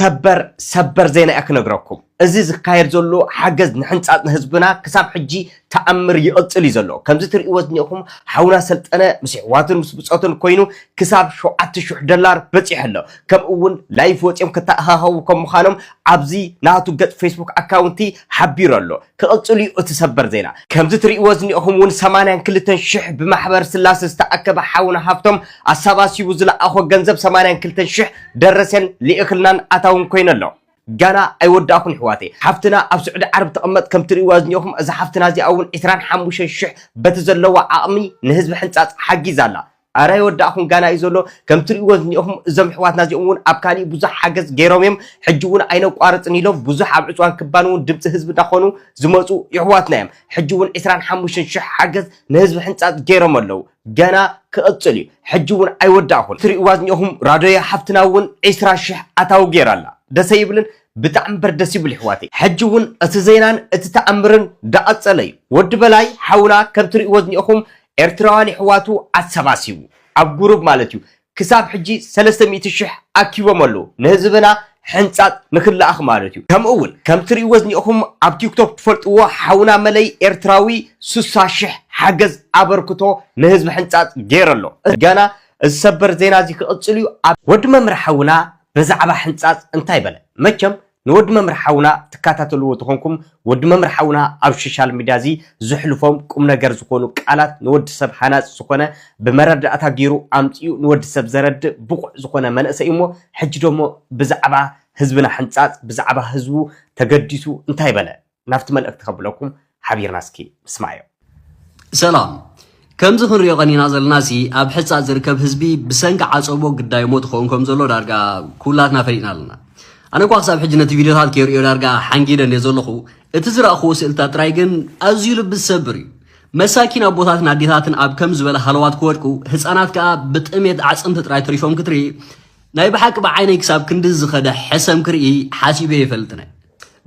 ሰበር ሰበር ዜና እየ ክነግረኩም እዚ ዝካየድ ዘሎ ሓገዝ ንሕንፃፅ ንህዝብና ክሳብ ሕጂ ተኣምር ይቕፅል እዩ ዘሎ ከምዚ ትርእይዎ ዝኒኤኹም ሓውና ሰልጠነ ምስ ኣሕዋቱን ምስ ብፆቱን ኮይኑ ክሳብ ሸውዓተ ሽሕ ደላር በፂሑ ኣሎ ከምኡ እውን ላይፍ ወፂኦም ክተኣኻኸቡ ከም ምዃኖም ኣብዚ ናቱ ገፅ ፌስቡክ ኣካውንቲ ሓቢሩ ኣሎ ክቕፅል እዩ እቲ ሰበር ዜና ከምዚ ትርእይዎ ዝኒኤኹም እውን ሰማንያን ክልተን ሽሕ ብማሕበር ስላሰ ዝተኣከበ ሓውና ሃፍቶም ኣሰባሲቡ ዝለኣኾ ገንዘብ ሰማንያን ክልተን ሽሕ ደረሰን ሊእክልናን ኣታውን ኮይኑ ኣሎ። ጋና ኣይወዳእኩን ይሕዋተይ ሓፍትና ኣብ ስዑዲ ዓረብ ትቅመጥ ከም ትሪእዋ ዝኒኦኹም እዛ ሓፍትና እዚኣ እውን ዕስራን ሓሙሽተን ሽሕ በቲ ዘለዋ ዓቅሚ ንህዝቢ ሕንጻጽ ሓጊዛ ኣላ ኣረ ኣይወዳእኹን ጋና እዩ ዘሎ ከም ትሪእዎ ዝኒኦኹም እዞም ይሕዋትና እዚኦም እውን ኣብ ካሊእ ብዙሕ ሓገዝ ገይሮም እዮም ሕጂ እውን ኣይነቋርጽን ኢሎም ብዙሕ ኣብ ዕጽዋን ክባን እውን ድምጺ ህዝቢ እንዳኾኑ ዝመጹ ይሕዋትና እዮም ሕጂ እውን ዕስራን ሓሙሽተን ሽሕ ሓገዝ ንህዝቢ ሕንጻጽ ገይሮም ኣለው ገና ክቅጽል እዩ ሕጂ ውን ኣይወዳእኩን ትሪእዋ ዝኒኤኹም ራዶየ ሓፍትና ውን ዒስራ ሽሕ ኣታዊ ጌራ ኣላ ደሰ ይብልን ብጣዕሚ እምበር ደስ ይብል ይሕዋተይ ሕጂ ውን እቲ ዜናን እቲ ታኣምርን ዳቀጸለ እዩ ወዲ በላይ ሓውና ከም ትሪእዎ ዝኒኤኹም ኤርትራውያን ይሕዋቱ ኣሰባሲቡ ኣብ ጉሩብ ማለት እዩ ክሳብ ሕጂ ሰለስተ ሚእቲ ሽሕ ኣኪቦም ኣለዉ ንህዝብና ሕንጻጽ ንክላኣኽ ማለት ዩ ከምኡ ውን ከም ትሪእዎ ዝኒኤኹም ኣብ ቲክቶክ ትፈልጥዎ ሓውና መለይ ኤርትራዊ ሱሳ ሽሕ ሓገዝ ኣበርክቶ ንህዝቢ ሕንጻጽ ጌሩ ኣሎ ገና እዚ ሰበር ዜና እዚ ክቅጽል ዩ ኣብ ወዲ መምህር ሓውና በዛዕባ ሕንጻጽ እንታይ በለ መቸም ንወዲ መምህር ሓውና ትካታተልዎ ተኾንኩም ወዲ መምህር ሓውና ኣብ ሾሻል ሚድያ እዚ ዘሕልፎም ቁምነገር ዝኾኑ ቃላት ንወዲ ሰብ ሃናጺ ዝኾነ ብመረዳእታ ጌሩ ኣምጺኡ ንወዲ ሰብ ዘረድእ ብቑዕ ዝኾነ መንእሰይ እሞ ሕጂ ደሞ ብዛዕባ ህዝብና ሕንጻጽ ብዛዕባ ህዝቡ ተገዲሱ እንታይ በለ ናብቲ መልእኽቲ ከብለኩም ሓቢርና እስኪ ንስማዮ። ሰላም ከምዚ ክንሪኦ ቀኒና ዘለና ሲ ኣብ ሕጻ ዝርከብ ህዝቢ ብሰንኪ ዓጸቦ ግዳይ ሞት ኸውን ከም ዘሎ ዳርጋ ኩላትና ፈሊጥና ኣለና ኣነ እኳ ክሳብ ሕጂ ነቲ ቪድዮታት ከይርእዮ ዳርጋ ሓንጊደን እየ ዘለኹ እቲ ዝረእኽዎ ስእልታት ጥራይ ግን ኣዝዩ ልቢ ዝሰብር እዩ መሳኪን ኣቦታትን ኣዴታትን ኣብ ከም ዝበለ ሃለዋት ክወድቁ ህፃናት ከዓ ብጥሜት ኣዕፅምቲ ጥራይ ተሪፎም ክትርኢ ናይ ብሓቂ ብዓይነይ ክሳብ ክንዲ ዝኸደ ሕሰም ክርኢ ሓሲበ የፈልጥነ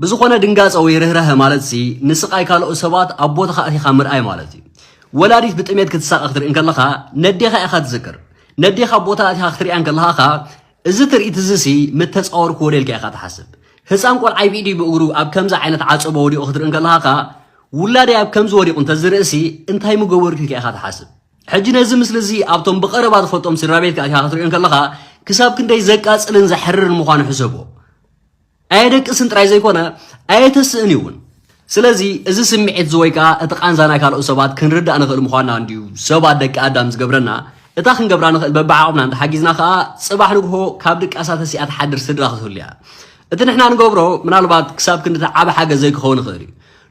ብዝኾነ ድንጋጸ ወይ ርህራሀ ማለት ሲ ንስቃይ ካልኦት ሰባት ኣብ ቦታኻ ኣቲኻ ምርኣይ ማለት እዩ። ወላዲት ብጥሜት ክትሳቀ ክትርኢ እንከለኻ ነዴኻ ኢኻ ትዝክር። ነዴኻ ኣብ ቦታ ኣቲኻ ክትሪኣ እንከለኻ ኸኣ እዚ ትርኢት እዚ ሲ ምተጻወርክዎ ዶ ኢልካ ኢኻ ትሓስብ። ህጻን ቆልዓይ ብኢዱይ ብእግሩ ኣብ ከምዚ ዓይነት ዓጸቦ ወዲቁ ክትርኢ እንከለኻ ኸኣ ውላደይ ኣብ ከምዚ ወዲቁ እንተዝርኢ ሲ እንታይ ምገበርኩ ኢልካ ኢኻ ትሓስብ። ሕጂ ነዚ ምስሊ እዚ ኣብቶም ብቀረባ ትፈልጦም ስድራቤትካ ኣቲኻ ክትሪኦ እንከለኻ ክሳብ ክንደይ ዘቃጽልን ዘሕርርን ምዃኑ ሕሰቦ። ኣየደቅስን ጥራይ ዘይኮነ ኣየተስእን እዩ እውን። ስለዚ እዚ ስምዒት እዚ ወይ ከኣ እቲ ቃንዛ ናይ ካልኦት ሰባት ክንርዳእ ንኽእል ምዃንና እንድዩ ሰባት ደቂ ኣዳም ዝገብረና፣ እታ ክንገብራ ንኽእል በብዓቕምና እንተሓጊዝና ከኣ ጽባሕ ንግሆ ካብ ድቃሳ ተሲኣ ትሓድር ስድራ ክትህሉ እያ። እቲ ንሕና ንገብሮ ምናልባት ክሳብ ክንድቲ ዓቢ ሓገዝ ዘይክኸውን ይኽእል እዩ።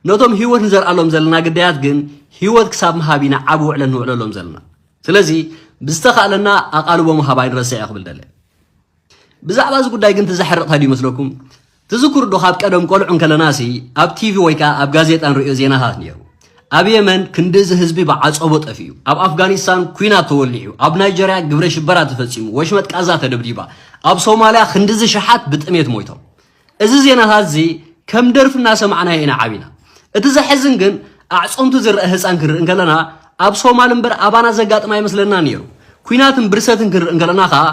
ነቶም ህይወት ንዘርኣሎም ዘለና ግዳያት ግን ህይወት ክሳብ ምሃብ ኢና ዓቢ ውዕለት ንውዕለሎም ዘለና። ስለዚ ብዝተኻእለና ኣቓልቦ ምሃብ ኣይንረስዕ እየ ክብል ደለ። ብዛዕባ እዚ ጉዳይ ግን እቲ ዘሕርቕ እንታይ ድዩ ይመስለኩም? ትዝክሩ ዶ ካብ ቀደም ቆልዑ እንከለናሲ ኣብ ቲቪ ወይ ከዓ ኣብ ጋዜጣ ንሪኦ ዜናታት ነይሩ። ኣብ የመን ክንዲ እዚ ህዝቢ ብዓፀቦ ጠፊኡ፣ ኣብ ኣፍጋኒስታን ኩናት ተወሊዑ፣ ኣብ ናይጀርያ ግብረ ሽበራ ተፈፂሙ፣ ወሽመጥ ቃዛ ተደብዲባ፣ ኣብ ሶማልያ ክንዲ እዚ ሸሓት ብጥሜት ሞይቶም። እዚ ዜናታት እዚ ከም ደርፊ እናሰማዕናዮ ኢና ዓቢና። እቲ ዘሕዝን ግን ኣዕፀምቱ ዝረአ ህፃን ክንርኢ እንከለና ኣብ ሶማል እምበር ኣባና ዘጋጥም ኣይመስለናን ነይሩ። ኩናትን ብርሰትን ክንርኢ እንከለና ከዓ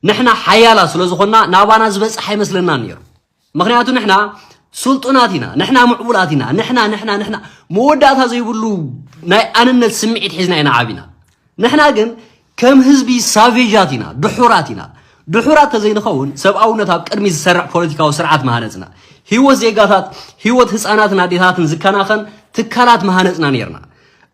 ንሕና ሓያላት ስለ ዝኾንና ናባና ዝበፅሕ ኣይመስለናን ነይሩ ምክንያቱ ንሕና ስልጡናት ኢና ንሕና ምዕቡላት ኢና ንሕና ንሕና ንሕና መወዳእታ ዘይብሉ ናይ ኣንነት ስምዒት ሒዝና ኢና ዓቢና ንሕና ግን ከም ህዝቢ ሳቬጃት ኢና ድሑራት ኢና ድሑራት ተዘይንኸውን ሰብኣውነት ኣብ ቅድሚ ዝሰርዕ ፖለቲካዊ ስርዓት መሃነፅና ህይወት ዜጋታት ህይወት ህፃናትን ኣዴታትን ዝከናኸን ትካላት መሃነፅና ነርና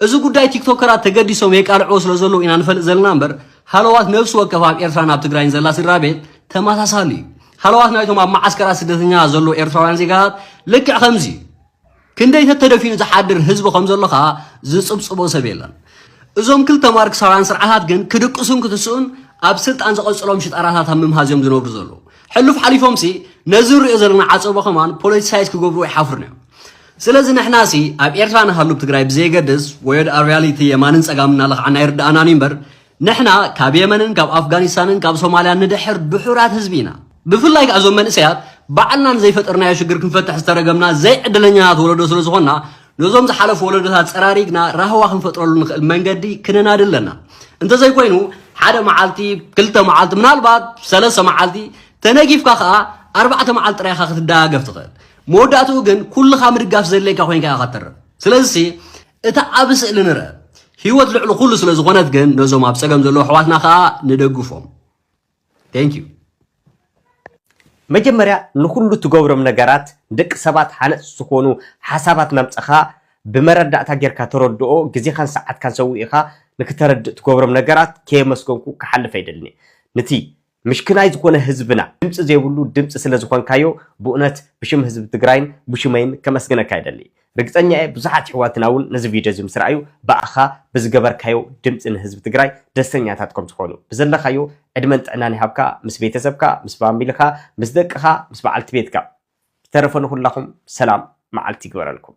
እዚ ጉዳይ ቲክቶከራት ተገዲሶም የቃልዕዎ ስለ ዘለዉ ኢና ንፈልጥ ዘለና እምበር ሃለዋት ነብሲ ወከፍ ኣብ ኤርትራን ኣብ ትግራይን ዘላ ስድራ ቤት ተመሳሳሊ እዩ ሃለዋት ናይቶም ኣብ መዓስከራት ስደተኛታት ዘለዉ ኤርትራውያን ዜጋታት ልክዕ ከምዚ እዩ ክንደይ ተተደፊኑ ዝሓድር ህዝቢ ከም ዘሎ ከዓ ዝፅብፅቦ ሰብ የለን እዞም ክልተ ማርክሳውያን ስርዓታት ግን ክድቅሱን ክትስኡን ኣብ ስልጣን ዘቐጽሎም ሽጣራታት ኣብ ምምሃዝ እዮም ዝነብሩ ዘለዉ ሕሉፍ ሓሊፎምሲ ነዚ ንሪኦ ዘለና ዓፀቦ ከማን ፖለቲሳይዝ ክገብሩ ኣይሓፍሩን እዮም ስለዚ ንሕናሲ ኣብ ኤርትራ ንሃሉ ብ ትግራይ ብዘየገድስ ወዮድ ኣብ ርያሊቲ የማንን ጸጋምን እናለኽዓና ኣይርድኣናን እዩ እምበር ንሕና ካብ የመንን ካብ ኣፍጋኒስታንን ካብ ሶማልያን ንድሕር ድሑራት ህዝቢ ኢና። ብፍላይ ከኣ እዞም መንእሰያት ባዕልና ንዘይፈጠርናዮ ሽግር ክንፈትሕ ዝተረገምና ዘይዕድለኛታት ወለዶ ስለ ዝኾንና ነዞም ዝሓለፉ ወለዶታት ጸራሪግና ራህዋ ክንፈጥረሉ ንኽእል መንገዲ ክነናዲ ኣለና። እንተዘይኮይኑ ሓደ መዓልቲ ክልተ መዓልቲ ምናልባት ሰለስተ መዓልቲ ተነጊፍካ ከኣ ኣርባዕተ መዓልቲ ጥራይ ኢኻ ክትደጋገፍ ትኽእል። መወዳእትኡ ግን ኩልኻ ምድጋፍ ዘድልየካ ኮይንካ ኢኻ ትተርፍ። ስለዚሲ እቲ ዓቢ ስእሊ ንርእ። ህይወት ልዕሊ ኩሉ ስለ ዝኾነት ግን ነዞም ኣብ ጸገም ዘለዉ ኣሕዋትና ከኣ ንደግፎም። Thank you። መጀመርያ ንኹሉ ትገብሮም ነገራት ንደቂ ሰባት ሃነፅቲ ዝኾኑ ሓሳባት ናምፀኻ ብመረዳእታ ጌርካ ተረድኦ ግዜኻን ሰዓትካን ሰዊእኻ ንክተረድእ ትገብሮም ነገራት ከየመስገንኩ ክሓልፍ ኣይደልን እየ ንቲ ምሽክናይ ዝኾነ ህዝብና ድምፂ ዘይብሉ ድምፂ ስለ ዝኾንካዮ ብኡነት ብሽም ህዝቢ ትግራይን ብሹመይን ከመስግነካ ይደሊ ርግፀኛ እየ ብዙሓት ይሕዋትና እውን ነዚ ቪድዮ እዚ ምስ ረኣዩ ብኣኻ ብዝገበርካዮ ድምፂ ንህዝቢ ትግራይ ደስተኛታት ከም ዝኾኑ ብዘለኻዮ ዕድመን ጥዕናን ይሃብካ ምስ ቤተሰብካ ምስ ፋሚልኻ ምስ ደቅኻ ምስ በዓልቲ ቤትካ ብተረፈ ንኹላኹም ሰላም መዓልቲ ይግበረልኩም።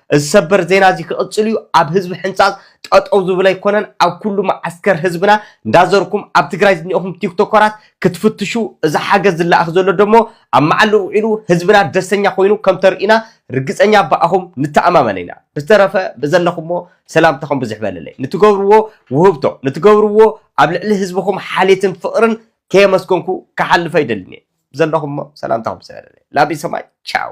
እዚ ሰበር ዜና እዚ ክቕጽል እዩ ኣብ ህዝቢ ሕንጻጽ ጠጠው ዝብል ኣይኮነን ኣብ ኩሉ መዓስከር ህዝብና እንዳዘርኩም ኣብ ትግራይ ዝኒኦኹም ቲክቶከራት ክትፍትሹ እዚ ሓገዝ ዝለኣኽ ዘሎ ደሞ ኣብ መዓልኡ ውዒሉ ህዝብና ደሰኛ ኮይኑ ከም ተርእዩና ርግጸኛ ብኣኹም ንተኣማመን ኢና ብዝተረፈ ብዘለኹሞ ሰላምታኹም ብዝሕ በለለይ ንትገብርዎ ውህብቶ ንትገብርዎ ኣብ ልዕሊ ህዝብኹም ሓሌትን ፍቕርን ከየመስገንኩ ክሓልፍ ኣይደልን እየ ብዘለኹሞ ሰላምታኹም ብዝሕ በለለይ ላቢ ሰማይ ቻው